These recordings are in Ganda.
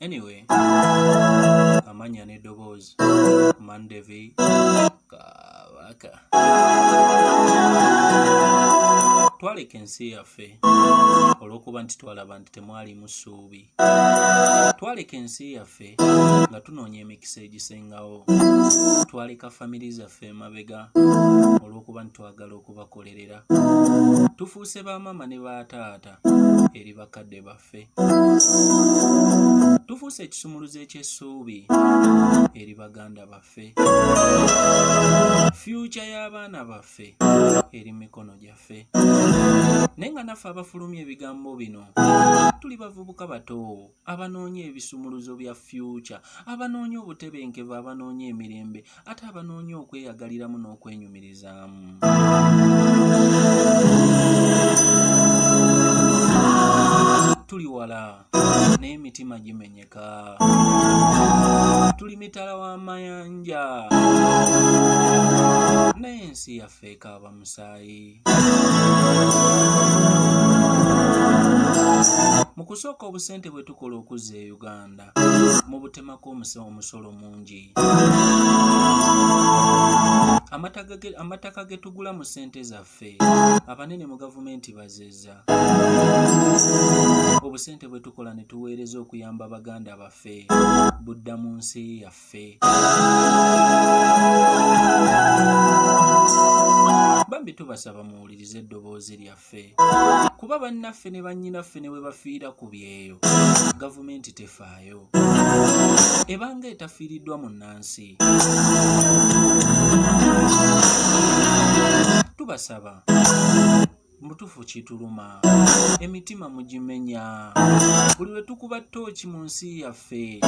anyway amanya n'eddoboozi mandevi kabaka twaleka ensi yaffe olw'okuba nti twalaba nti temwalimu ssuubi twaleka ensi yaffe nga tunoonya emikisa egisingawo twaleka famiri zaffe emabega olw'okuba ntitwagala okubakolerera tufuuse ba maama ne ba taata eri bakadde baffe tufuuse ekisumuluzo eky'essuubi eri baganda baffe fyuca y'abaana baffe eri mikono gyaffe ffe naye nga naffe abafulumya ebigambo bino tuli bavubuka bato abanoonya ebisumuluzo bya fyuca abanoonya obutebenkevu abanoonya emirembe ate abanoonya okweyagaliramu n'okwenyumirizaamu tuli wala naye emitima gimenye tuli mitala w'amayanja naye ensi yaffe ekaaba musaayi mu kusooka obusente bwe tukola okuzza e uganda mu butemako omusolo mungi amataka ge tugula mu sente zaffe baffe abanene mu gavumenti bazeza obusente bwe tukola ne tuweereza okuyamba baganda baffe budda mu nsi yaffe bambi tubasaba muwulirize eddoboozi lyaffe kuba bannaffe ne bannyinaffe ne bwe bafiira ku byeyo gavumenti tefaayo nayo ebanga etafiiriddwa mu nnansi tubasaba mutufu kituluma emitima mugimenya buli lwe tukuba ttooki mu nsi yaffe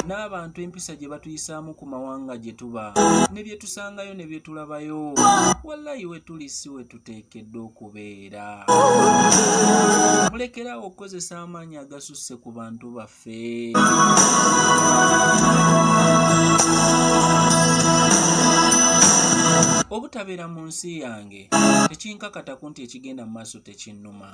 n'abantu empisa gye batuyisaamu ku mawanga gye tuba ne bye tusangayo ne bye tulabayo wallayi we tuli si we tuteekeddwa okube era mulekerawo okukozesa amaanyi agasusse ku bantu baffe obutabeera mu nsi yange tekinkakataku nti ekigenda mu maaso tekinnuma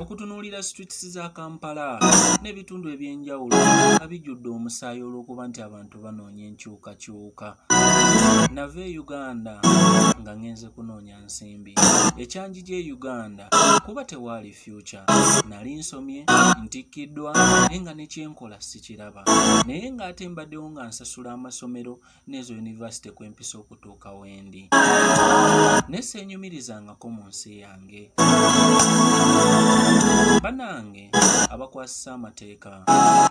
okutunuulira streets za kampala n'ebitundu eby'enjawulo nga bijjudde omusaayi olw'okuba nti abantu banoonya enkyukakyuka nava e uganda nga ŋŋenze kunoonya nsimbi ekyanji gy'e uganda kuba tewaali fyuca nali nsomye ntikkiddwa naye nga nekyenkola sikiraba naye ng'ate mbaddewo nga nsasula amasomero n'ezo yunivasite kwe mpisa okutuuka wendi ne seenyumirizangako mu nsi yange banange abakwasisa amateeka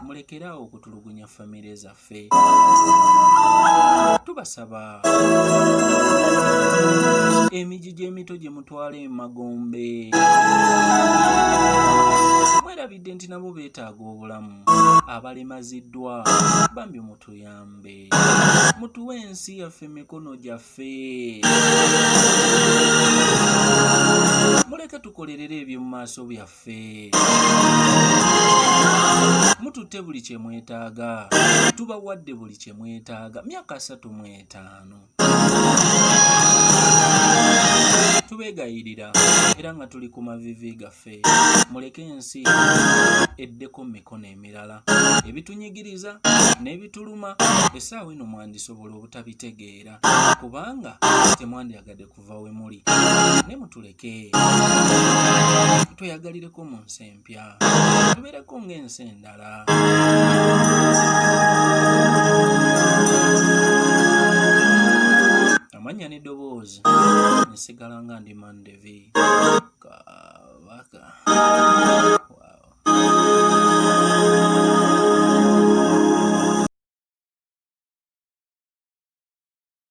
mulekeraawo okutulugunya famire zaffe ffe tubasaba emiji gy'emito gye mutwala emagombe mwerabidde nti nabo beetaaga obulamu abalemaziddwa bambi mutuyambe mutuwe ensi yaffe mikono gyaffe muleke tukolerere eby'omu maaso byaffe waffe mututte buli kye mwetaaga tubawadde buli kye mwetaaga myaka asatu mu etaano tubeegayirira era nga tuli ku mavivi gaffe muleke ensi eddeko mu mikono emirala ebitunyigiriza n'ebituluma essaawa eno mwandisobola obutabitegeera kubanga temwandyagadde okuva we muli ne mutuleke tweyagalireko mu nsi empya tubeereko ng'ensi endala amanya n'eddoboozi nsigala nga ndi mandevi kabaka